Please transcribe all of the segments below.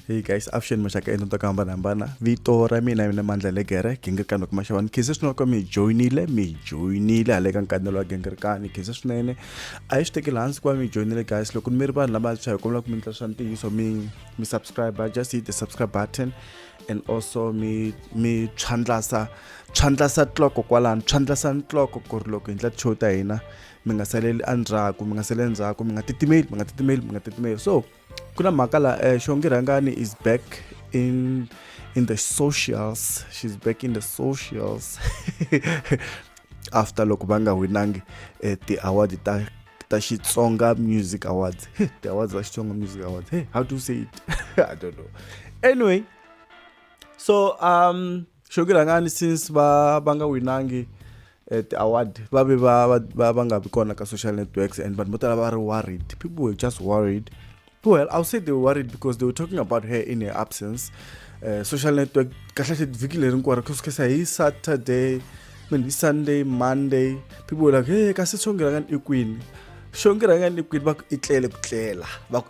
hey guys avuxeni maxaka ento to hambanahambana vito ra mina mina mandla legere gingirikani wa kumaxavani khize swinene ka mi joyinile mi joyinile hale ka nkanelo wa gingirikani khize swinene a yi swi tekeli hansi ku va mi joyinile guys loko mi ri vanhu lava swa hi kombela ku mi ndla swa ntiyiso mi mi subscribe just hit the subscribe button and also mi mi tshwandlasa tshwandlasa tloko kwalano tshwandlasa ntloko ku ri loko hi ndla show ta hina mi nga saleli endzhaku mi nga saleli endzhaku mi nga titimeli mi nga titimeli mi nga titimeli so ku na mhaka la eh, xongi rhangani is back in in the socials she's back in the socials after loko va nga winangi eh, ti-award ta ta xitsonga music awards ti-awards ta xitsonga music awards hey how do you say it i don't know anyway so um xo ki rhangani since va va nga winangi eh, ti-award va ve va va va va nga vi kona ka social networks and vanhu vo tala va ri worried people were just worried well i'll say they were worried because they were talking about her in her absence uh, social network kahlahle vhiki leri hinkwaro kusukhesa hi saturday mean hi sunday monday people were like hey kasi xongirangani i kwini xongirangani i kwini va ku i tlele ku tlela va ku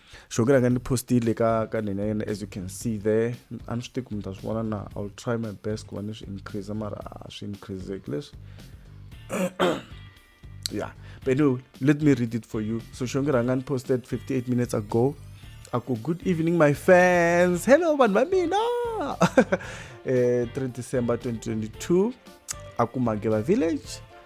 sure ke rhanga ni postile ka ka nina yena as you can see there a ni swi tivi ku mi ta swi vona na i will try my best ku va ni swi increase mara a swi increaseki leswi yeah but no let me read it for you so sure ke rhanga ni posted 58 minutes ago a ku good evening my fans hello vanhu va mina eh 3 december 2022 a ku mageba village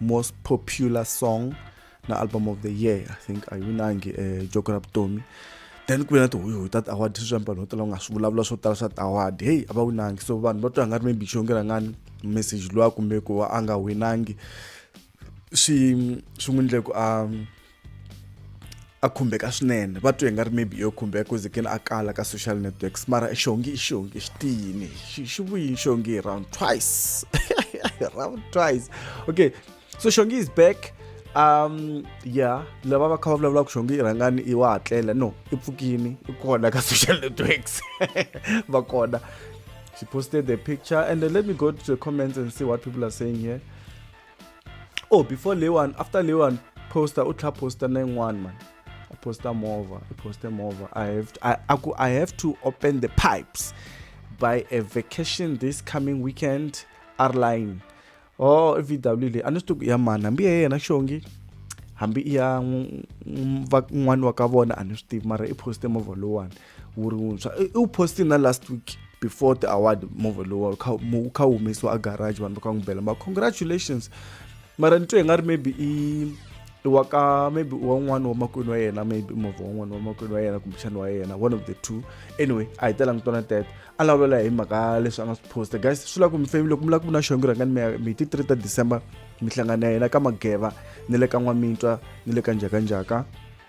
most popular song na album of the year i think a yi winangi um eh, joko ra vutomi then ku ve na tihoyihoyi ta ti-award sweswi vanhu vo tala va nga swi vulavula swo tala swa ti-award heyi a va winangi so vanhu va twa nga ri maybe xonge rangani message lowa kumbe ku va a nga winangi swi swi n'wi ndle ku a um, a khumbeka swinene va twe hi nga ri maybe yo khumbeka ku zekeni a kala ka social networks mara xongi i xongi xi tiyini xi vuyini xongi round twice round twice okay so xongi is back um ya lava va kha va vulavulaka xongi i rhangani i wa hatlela no i pfukini i kona ka social networks va kona she posted the picture and then let me go to the comments and see what people are saying here oh before leyiwani after leyiwani poster u tlha poster na yin'wani mani a poster movha i poster movha i have to, I, I, I have to open the pipes by a vacation this coming weekend airline oh i vw leyi a ni swi tiku ya mani hambi ya yena xongi hambi i ya n'wana wa ka vona a ni swi tivi mara i poster movha lowani wu ri wuntshwa i wu posti na last week before the award movha lowa wu kha wu humesiwa a garage vanhu va kha n'wi bela ma congratulations mara ni twe hi nga ri maybe i i wa ka maybe i wan'wana wa makwenu wa yena maybe movha wan'wana wa makwenu wa yena kumbexana wa yena one of the two anyway a hi telanga twana tete a lawulela hi mhaka leswi a nga swi posta guys swi lava ku mi family loko mi lava ku vona xongo rhangani mi ya mi ti three ta december mi hlangana ya yena ka mageva ni le ka n'wamintwa ni le ka njhakanjhaka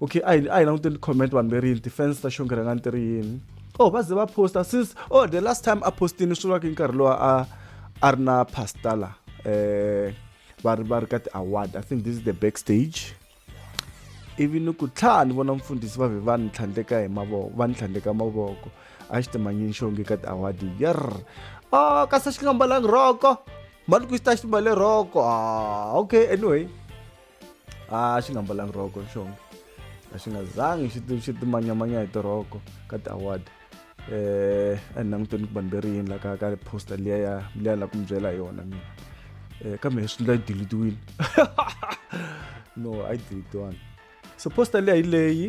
okay a hi a hi languteni comment vanhu veri yini ti-fans ta xongerhangani ti ri yini oh va ze va posta since oh the last time a postini swi vulaka nkarhi lowa a a ri na pasta la eh va ri va ri ka ti-award i think this is the back stage ivi ni ku tlhaa ni vona mfundhisi va ve va ni tlhandleka hi mavoko va ni tlhandleka mavoko a xi timanyini xonge ka ti-award yer o oh, kasi xi nga mbalangi roko mali ku xi ta xi mbale roko ah, okay anyway a xi nga mbalanga rhoko nxongo a xi nga zangi xi xi timanyamanya hi tirhoko ka ti-award eh a ni languteni ku vanhu ve ri yini la ka ka poster liya ya liya la ku mi byela hi yona mina um kambe hi swi ndla yi dilitiwile no a yi dilitiwanga so poster liya hi leyi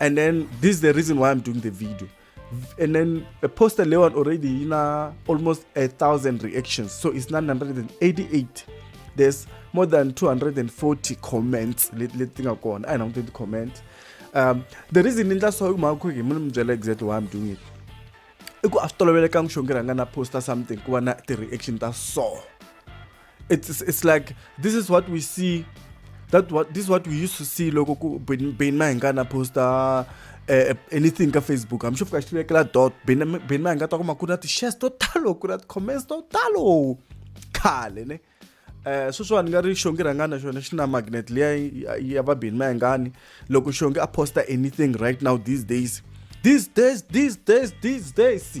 and then this is the reason why i'm doing the video and then the poster leon already you know almost a thousand reactions so it's 988 there's more than 240 comments let let thing go on i don't think the comment um the reason in that so my quick exactly why i'm doing it i ku a swi tolovelekanga xo ngi rhanga na posta something ku va na ti-reaction ta so it's it's like this is what we see that what this is what we used to see loko ku ben ben mahingana posta uh, anything ka facebook i'm sure ka xi vekela dot ben ben mahinga ta kuma ku na ti-shares to talo ku na ti-comments to talo khale ne eh sweswiwani ni nga ri xongi rhangana xona xi na magnet leya ya va ben mahingani loko xongi a posta anything right now these days these days these days these days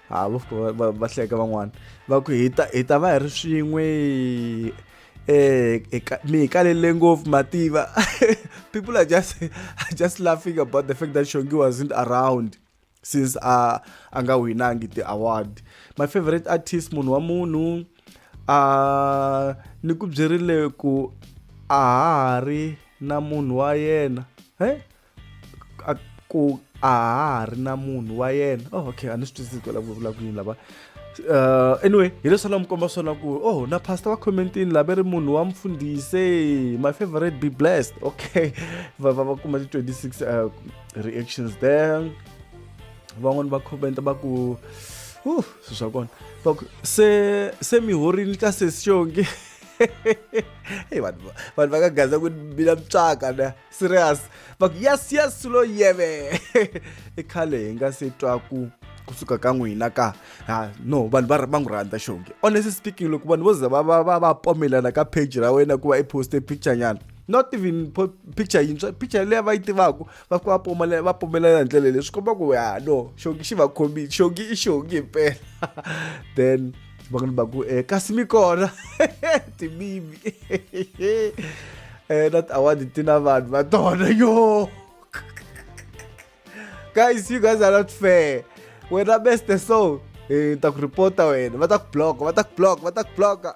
ha va hleka van'wana va ku hi ta hi ta va hi ri swin'we eh mi hi kalele ngopfu mativa people are just are just laughing about the fact that shongi wasn't around since a a nga winangi ti-award my favorite artist munhu wa munhu a ni ku byerile ku a ha ri na munhu wa yena he a ku a ha ri na munhu wa yena oh okay a ni swi twisisi ku vulavula ku yini lava uh, anyway hi leswi la mi komba swona ku oh na pastor wa commentini lava ri munhu wa mfundhise my favorite be blessed okay va va va kuma ti 26 uh, reactions there van'wani va comment va ku uh swi swa kona va ku se se mi horini ka sesionge hey vanhu vanhu va ka gaza ku bila mutswaka na serious va ku yes yes lo yeve i khale hi nga se twa ku kusuka ka n'wina ka ha no vanhu va va n'wi rhandza xonge honestly speaking loko vanhu vo za va va va va pomelana ka page ra wena ku va i poste picture nyana not even picture yintshwa picture leyi va yi tivaka va ku va pomelela va pomelela hi ndlela leyi swi komba ku ya no xongi xi va khomile xongi i xongi himpela then xivangelo va ku eh, kasi mi kona timimi eh, not award ti na vanhu va tona yo guys you guys are not fair wena best the soul eh, ta ku reporta wena va ta ku block va ta ku block va ta ku block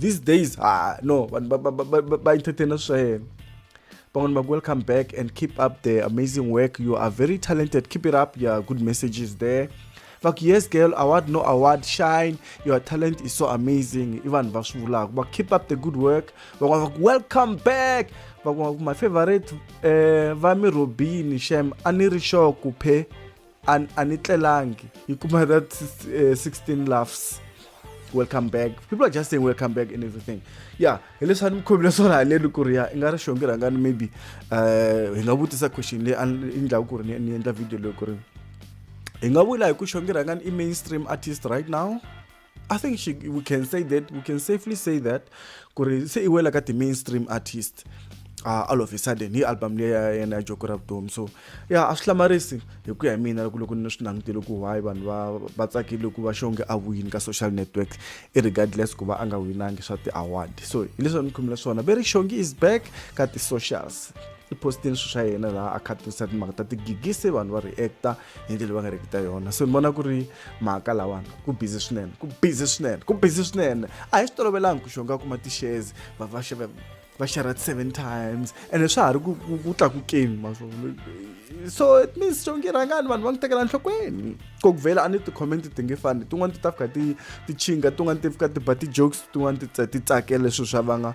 these days ah no vanhu va- va- va- va- va- va entertaina swa yena van'wani va ku welcome back and keep up the amazing work you are very talented keep it up your good messages there va ku yes girl award no award shine your talent is so amazing i vanhu va swi vulaka va keep up the good work van'wani va ku welcome back van'wani va ku my favorite eh va mi robini shem a ni ri sure ku phe and a ni tlelangi yi kuma that uh, eh, 16 laughs welcome back people are just saying welcome back and everything yeah hi leswi a ni mi khomile swona haleni ku ri ya i nga ri xongi rhangani maybe um hi nga vutisa question leyi a yi ndlaku ku ri ni endla video leyi ku ri hi nga vula hi ku xongi rhangani i mainstream artist right now I think she, we can say that we can safely say that ku ri se i wela ka ti-mainstream artist uh, all of a sudden hi album leyi ya yena ya joko ra vutomi so ya a swi hlamarisi hi ku ya hi mina loko loko ni swi langutele ku why vanhu va va tsakile ku va xonge a wini ka social network irregardless ku va a nga winangi swa ti-award so hi leswi ni khumela swona ve ri xongi is back ka ti-socials i postini swilo swa yena laha a khatirisa timhaka ta tigigisi vanhu va reacta hi ndlela va nga riki ta yona so ni vona ku ri mhaka lawani ku busy swinene ku busy swinene ku busy swinene a hi swi tolovelanga ku xonga kuma tixezi va va xava va xerha seven times ene swa ha ri ku tlakukeni maswona so it means xongi rhangani vanhu va n'wi tekela nhlokweni ko ku vhela a ni ti-comment ti nge fani tin'wani ti ta fika ti ti chinga tin'wani ti fika ti ba ti-jokes tin'wani ti ti tsakela leswi swa vanga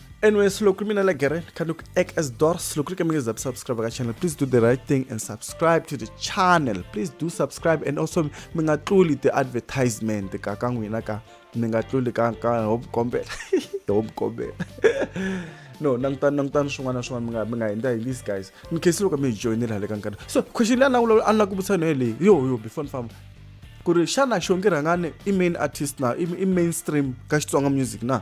Anyway, silokhu mina la gere khandu ku ek as door silokhu ke mingiza subscribe ka channel. Please do the right thing and subscribe to the channel. Please do subscribe and also mingatluli the advertisement ka ka n'wina ka mingatluli ka ka hope kombela. hope kombela. no nangitani nangitani swin'wana na swin'wana mi nga mi nga henda hi list guys in case loko mi hi joyinile hale ka nkarhi so question leyi a ni a ni la ku vutisa yona yeleyi yo yo before ni famba ku ri xana xongi rhangani i main artist na i mainstream ka xitsonga music na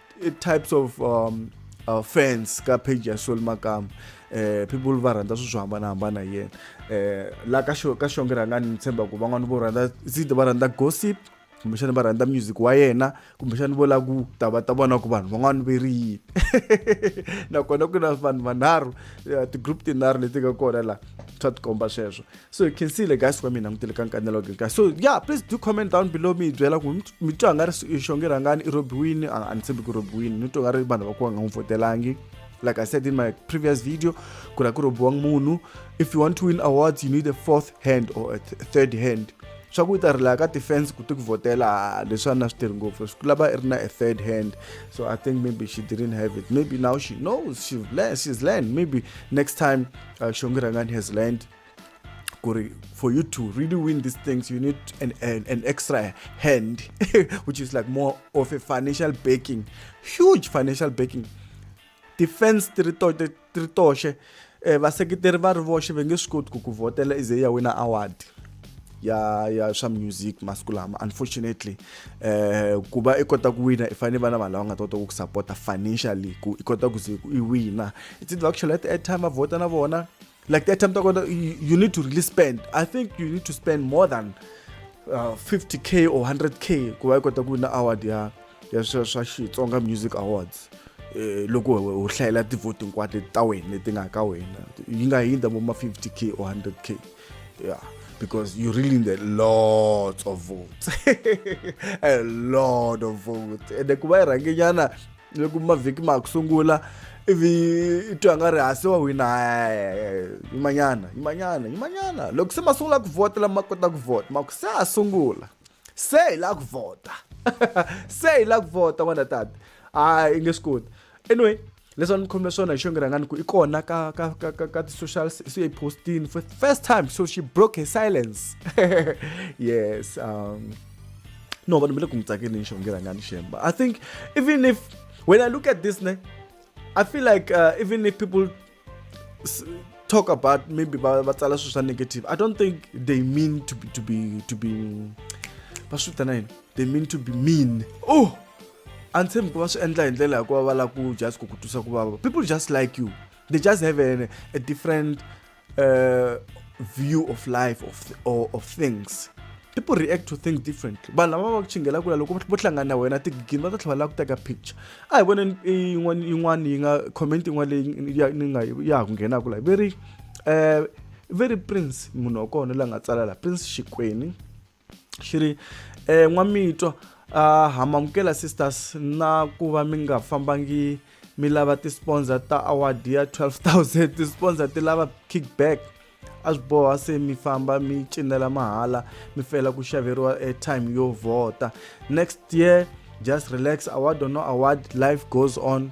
types of um, uh, fans ka page ya Soul Makam eh people va rhandza swilo swo hambanahambana hi yena eh la ka xo ka xonge rhanga ni tshemba ku van'wana vo rhandza zide va rhandza gossip kumbexana va rhandza music wa yena kumbexana vo lava ku ta va ta vona ku vanhu van'wana ve ri yini nakona ku na vanhu vanharhu eh, ti-group tinharhu leti nga kona laha swa tikomba sweswo so hi khensile guys wa mi langutele ka nkanelo ke guys so yeah please do comment down below mi hi byela ku mi twa nga ri xonge rhangani i robiwini a ni tshembi ku robiwini ni twa nga ri vanhu va ku va nga n'wi votelangi like i said in my previous video ku ra ku robiwanga munhu if you want to win awards you need a fourth hand or a third hand swa ku yi ta rilaya ka defense ku ti ku votela leswi a na swi tirhi ngopfu swi lava i ri na a third hand so i think maybe she didn't have it maybe now she knows she's learned, she's learned maybe next time uh, shongi rangan has learned Kuri, for you to really win these things, you need an, an, an extra hand, which is like more of a financial backing, huge financial backing. Defense tiritoshe eh, vaseketeri va ri voxe va nge swi koti ku ku vhotela ize ya wina award ya ya swa music masiku lama unfortunately eh ku va i kota ku wina i fanele vana vanhu lava nga ta kota ku ku sapota financially ku i kota ku ze i wina it's either actually let the airtime va vhota na vona like the airtime ta kona you need to really spend i think you need to spend more than uh, 50k or 100k ku va yi kota ku wina award ya ya swa swa xitsonga music awards eh, loko u hlayela tivhoti hinkwato ta wena leti nga ka wena yi nga hindza vo ma 50k or 100k yeah because you really need a lot of votes a lot of votes ende ku va yi rhangenyana ni ku mavhiki ma ha ku sungula ivi i twa nga ri hasi wa wina yimanyana yimanyana yimanyana loko se ma sungula ku vhota lama ma kota ku vhota ma ku se a sungula se hi la ku vhota se hi la ku vhota n'wana tata a i nge swi koti anyway leswi a ni khomile swona hi xo ngi rhangani ku i kona ka ka ka ka ka ti-social se yi postini for first time so she broke her silence yes um no vanhu va le ku n'wi tsakeni ni xongela nga ni shemba i think even if when i look at this ne i feel like uh, even if people talk about maybe va va tsala swilo swa negative i don't think they mean to be to be to be va swi vitana yini they mean to be mean oh a ni tshembi ku va swi endla hi ndlela hikuva va lava ku just ku ku twisa ku vava people just like you they just have a, a different uh, view of life of, th or of things people react to things differently vanhu lava va ku chingela kula loko vo hlangana na wena tigigini va ta tlhela va lava ku teka picture a hi voneni yin'wana yin'wana yi nga comment yin'wana leyi ni nga ya ha ku nghenaka la very um very prince munhu wa kona la nga tsala la prince xikwini xi ri eh, n'wamitwa a hamamukela sisters na ku va mi nga fambangi mi lava ti-sponsor ta award ya 12000 ti-sponsor ti lava kickback a swi boha se mi famba mi cinela mahala mi fela ku xaveriwa airtime yo vhota next year just relax award or no award life goes on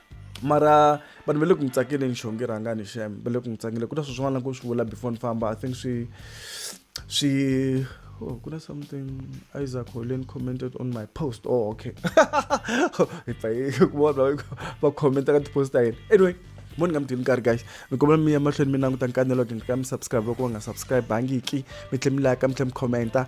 mara vanhu va le ku n'wi tsakeleni xonge rhangani xem va le ku n'wi tsakele ku na swi swin'wana ku swi vula before ni famba i think swi swi oh ku na something isaac holeni commented on my post oh okay hi pfa hi ku vona va commenta ka tipost ta yena anyway mo ni nga mi dini nkarhi guys ni kombela mi ya mahlweni mi languta nkanelo ke nga mi subscribe loko va nga subscribe bangiki mi tlhe mi like mi tlhe mi commenta